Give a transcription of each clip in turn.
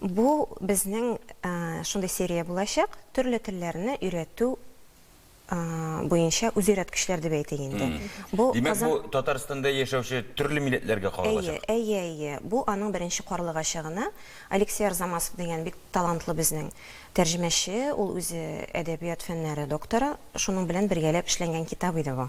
Бу безнең шундый серия булачак, төрле телләрне өйрәтү буенча үзөйрәткечләр дип әйтик инде. Димәк, бу Татарстанда яшәүче төрле милләтләргә каралачак. Әйе, әйе, әйе. Бу аның беренче карлыгачы гына. Алексей Арзамасов дигән бик талантлы безнең тәрҗемәче, ул үзе әдәбият фәннәре докторы, шуның белән бергәләп эшләнгән китап иде бу.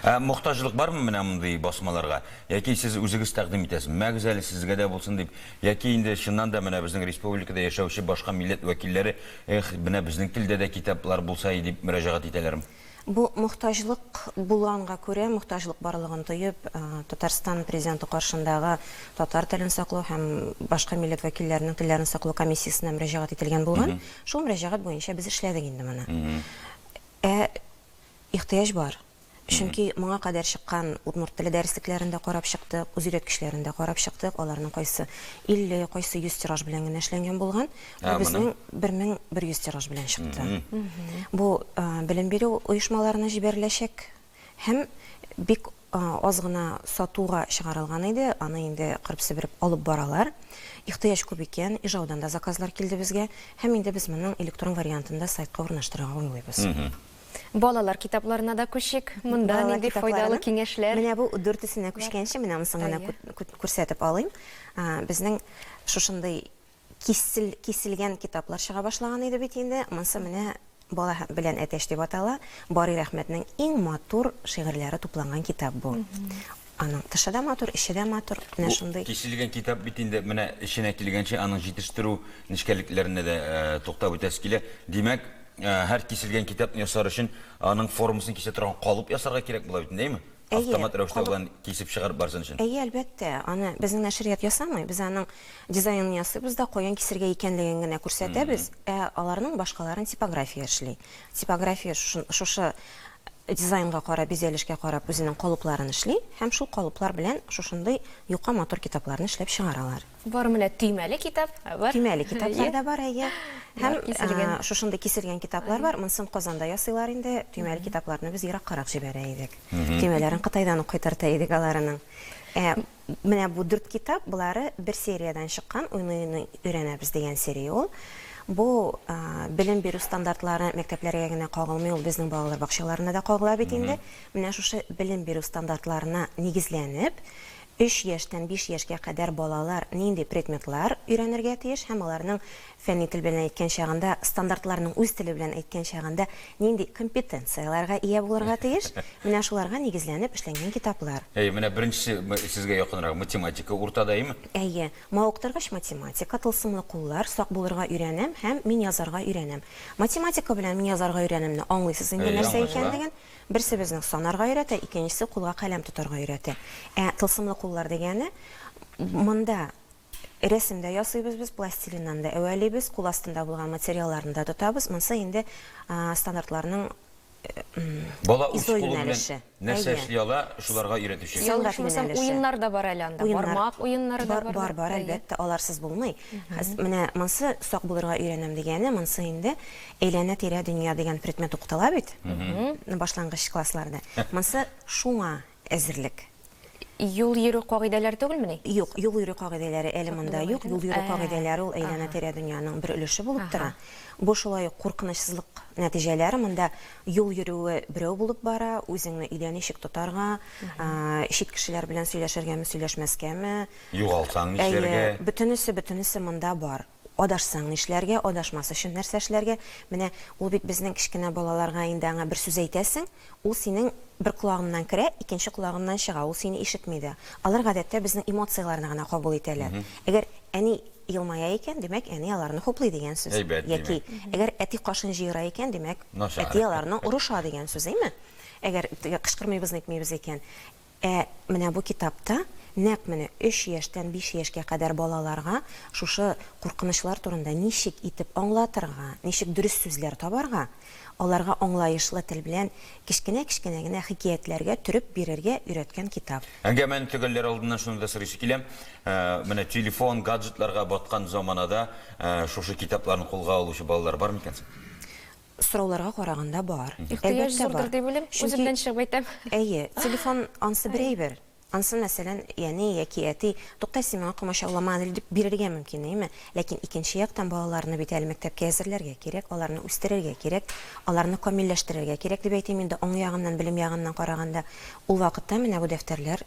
Ә мохтаҗлык бармы менә мондый басмаларга? Яки сез үзегез тәкъдим итәсез? Мәгез әле сезгә дә булсын дип. Яки инде чыннан да менә безнең республикада яшәүче башка милләт вәкилләре, эх, менә безнең телдә дә китаплар булса и дип мөрәҗәгать итәләрме? Бу мохтаҗлык булганга күрә, мохтаҗлык барлыгын тоеп, Татарстан Президенты каршындагы татар телен саклау һәм башка милләт вәкилләренең телләрен саклау комиссиясенә мөрәҗәгать ителгән булган. Шул мөрәҗәгать буенча без эшләдек инде моны. Ә Ихтыяҗ бар. Чөнки моңа кадәр чыккан удмурт теле дәреслекләрен дә карап чыктык, үзөйрәткечләрен дә карап чыктык, аларның кайсы 50, кайсы 100 тираж белән генә эшләнгән булган. Ә безнең 1100 тираж белән чыкты. Бу белем бирү оешмаларына җибәреләчәк һәм бик аз гына сатуга чыгарылган иде, аны инде кырып-себереп алып баралар. Ихтыяҗ күп икән, Ижаудан да заказлар килде безгә һәм инде без моның электрон вариантын да сайтка урнаштырырга уйлыйбыз. Балалар китапларына да күчик. Монда Балалар нинди китапларына. файдалы киңәшләр? Менә бу дүртесенә күчкәнче, менә монысын гына Әйе. күт- күт- күрсәтеп алыйм. А, Безнең шушындый кисел, киселгән китаплар чыга башлаган иде бит инде. Монысы менә Бала һә- белән әтәч дип атала. Барый Рәхмәтнең иң матур шигырьләре тупланган китап бу. Аның тышы да матур, эче дә матур, менә шундый. Бу тишелгән китап бит инде, менә эченә килгәнче аның җитештерү нечкәлекләренә дә туктап үтәсе килә. Димәк, һәр тишелгән китапны ясар өчен аның формасын кисә торган калып ясарга кирәк була бит инде, әйеме? Автомат рәвештә болай кисеп чыгарып барсын өчен. Әйе, әлбәттә, аны безнең нәшрият ясамый, без аның дизайнын ясыйбыз да, каян кисергә икәнлеген генә күрсәтәбез, ә аларның башкаларын типография эшли. Типография шушы Дизайнга карап, бизәлешкә карап үзенең калыпларын эшли һәм шул калыплар белән шушындый юка матур китапларны эшләп чыгаралар. Бар менә төймәле китап бар. Төймәле китаплар да бар, әйе. Һәм шушындый киселгән китаплар бар. Монысын Казанда ясыйлар инде. Төймәле китапларны без ераккарак җибәрә идек. Төймәләрен Кытайдан ук кайтарта идек аларының. Ә. Менә бу дүрт китап, болары бер сериядән чыккан, Уйный-уйный өйрәнәбез дигән серия ул. Бу белем бирү стандартлары мәктәпләргә генә кагылмый, ул безнең балалар бакчаларына да кагыла бит инде. Менә шушы белем бирү стандартларына нигезләнеп, өч яшьтән биш яшькә кадәр балалар нинди предметлар өйрәнергә тиеш һәм аларның Фәнни тел белән әйткән чагында, стандартларның үз теле белән әйткән чагында нинди компетенцияләргә ия булырга тиеш? Менә шуларга нигезләнеп эшләнгән китаплар. Әйе, менә беренчесе сезгә якынрак, математика уртада, әйеме? Әйе. Мавыктыргыч математика, тылсымлы куллар, сак булырга өйрәнәм һәм мин язарга өйрәнәм. Математика белән мин язарга өйрәнәмне аңлыйсыз инде Әйе, нәрсә аңлашыла. икәнлеген. Берсе безнең санарга өйрәтә, икенчесе кулга каләм тотарга өйрәтә. Ә тылсымлы куллар дигәне, монда Рәсем дә ясыйбыз без, пластилиннан да әвәлибез, кул астында булган материалларны да тотабыз, монсы инде стандартларның Бала үз кулы белән нәрсә эшли ала, шуларга өйрәтүче. Ял итмәсәм, уеннар да бар әле анда, бармак уеннары да бар. Бар, бар, әлбәттә, аларсыз булмый. Менә монсы сак булырга өйрәнәм дигәне, монсы инде әйләнә-тирә дөнья дигән предмет укытыла бит башлангыч классларда. Монсы шуңа әзерлек. Юл йөрү кагыйдәләре түгелмени? Юк, юл йөрү кагыйдәләре әле монда юк. Юл йөрү кагыйдәләре ул әйләнә-тирә дөньяның бер өлеше булып тора. Бу шулай ук куркынычсызлык нәтиҗәләре. Монда юл йөрүе берәү булып бара, үзеңне өйдә ничек тотарга, чит кешеләр белән сөйләшергәме, сөйләшмәскәме. Югалсаң нишләргә? Әйе, бөтенесе, бөтенесе монда бар. Адашсаң нишләргә, адашмас өчен нәрсә эшләргә? Менә ул бит безнең кечкенә балаларга инде аңа бер сүз әйтәсең, ул синең бер колагыңнан керә, икенче колагыңнан чыга, ул сине ишетми дә. Алар гадәттә безнең эмоцияләрне генә кабул итәләр. Әгәр әни елмая икән, димәк, әни аларны хуплый дигән сүз. Әйбәт, димәк. Яки әгәр әти кашын җыера икән, димәк, Начар. әти аларны орыша дигән сүз, әйме? Әгәр теге кычкырмыйбыз, нитмибез икән. Ә менә бу китапта нәкъ менә өч яшьтән биш яшькә кадәр балаларга шушы куркынычлар турында ничек итеп аңлатырга, ничек дөрес сүзләр табарга, аларга аңлаешлы тел белән кечкенә-кечкенә генә хикәятләргә төреп бирергә өйрәткән китап. Әңгәмәне төгәлләр алдыннан шуны да сорыйсы килә, менә телефон, гаджетларга баткан заманада шушы китапларны кулга алучы балалар бар микән соң? Сорауларга караганда бар. Ихтыяҗ зурдыр дип уйлыйм, үземнән чыгып әйтәм. Әйе, телефон ансы бер әйбер, ансы мәсәлән, әни яки әти, тукта, син миңа комачаулама әле дип бирергә мөмкин, әйеме? Ләкин икенче яктан балаларны бит әле мәктәпкә әзерләргә кирәк, аларны үстерергә кирәк, аларны камилләштерергә кирәк дип әйтим инде, уң ягыннан, белем ягыннан караганда. Ул вакытта менә бу дәфтәрләр